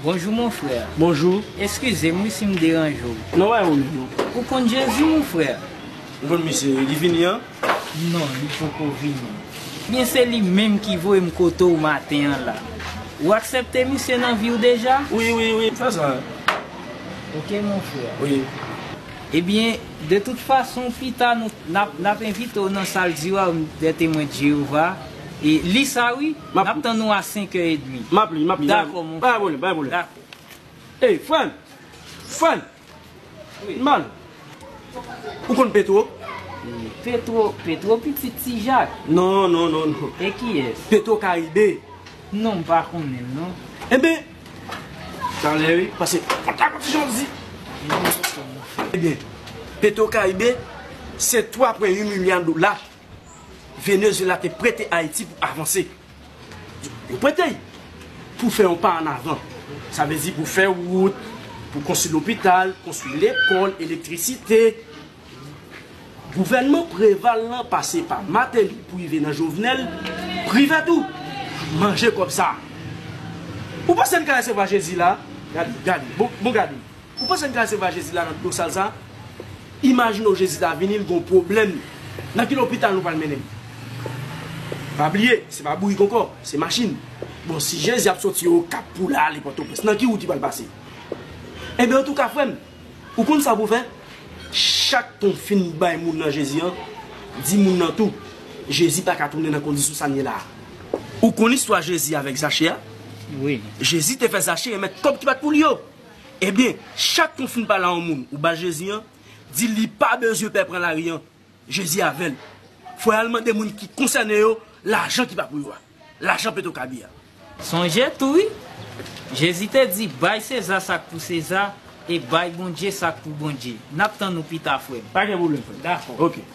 Bonjou mon frè. Bonjou. Eskize m wi si m deranje w. Non wè ou menm. Ou konn Jezi mon frè? Ou konn misye wi li vini an. Non li poko vini. Byen se li menm ki voyem kote w maten an la. Ou aksepte misye nan vi w deja? Wi wi wi fè sa. Ok mon frère. Wi. Ebyen de tout fason pita nou nap nap envite w nan sal diwawm dè temwen de Jeyova e li sa wi nap tann ou a senkè edmi. Map li map li. Dakò mon frère. Pa gen pwoblèm pa gen pwoblèm. Dakò. Ey frè m! Frè m! Nman, ou konn Petro? Petro, Petro pitit ti Jak. Non, non, non, non. E kiyès? Petro Karibe. Non, m pa konnen l non. Enben, talè wi, pase mwen ta konn ti jan w di. Ebyen, Petro Karibe se 3,8 milya dola Venezuela te prete Ayiti pou avanse. Yo prete y pou fè yon pa an avan. Sa vle di pou fè wout, pou konstwi lopital, konstwi lekòl, elektrisite. Gouvènman Preval lan pase pa Mateli pou rive nan Jovenel, Privert ou? Manje kòb sa a. Ou panse n ka resevwa Jezi la a? Gade, gade, bon gade. Ou panse gal se va jezi la nan dlo sal sa imajine w jezi ta vini l gon pwoblèm nan ki lopital nou pral mennen m pa bliye se pa bourik ankò se machin bon si jezi ap soti okap pou l ale pòtoprens nan ki wout li pral pase enben antouka frè m ou konn sa pou w fè chak tan w fin bay moun nan jezi an di moun nan tou jezi pa ka tounen nan kondisyon sa n ye la ou konn istwa jezi avèk zache a jezi te fè zache remèt kòb ki pat pou li yo. Ebyen chak kon fin pale a yon moun ou ba jezi an di li pa bezwen pè pran lari an jezi avèl fòy al mande moun ki konsène yo lajan ki pa pou yo a lajan petro kabi a. Sonje tou wi Jezi te di bay seza sak pou seza e bay Bondye sak pou Bondye nap tann ou pita frèm. Pa gen pwoblèm frèm ok.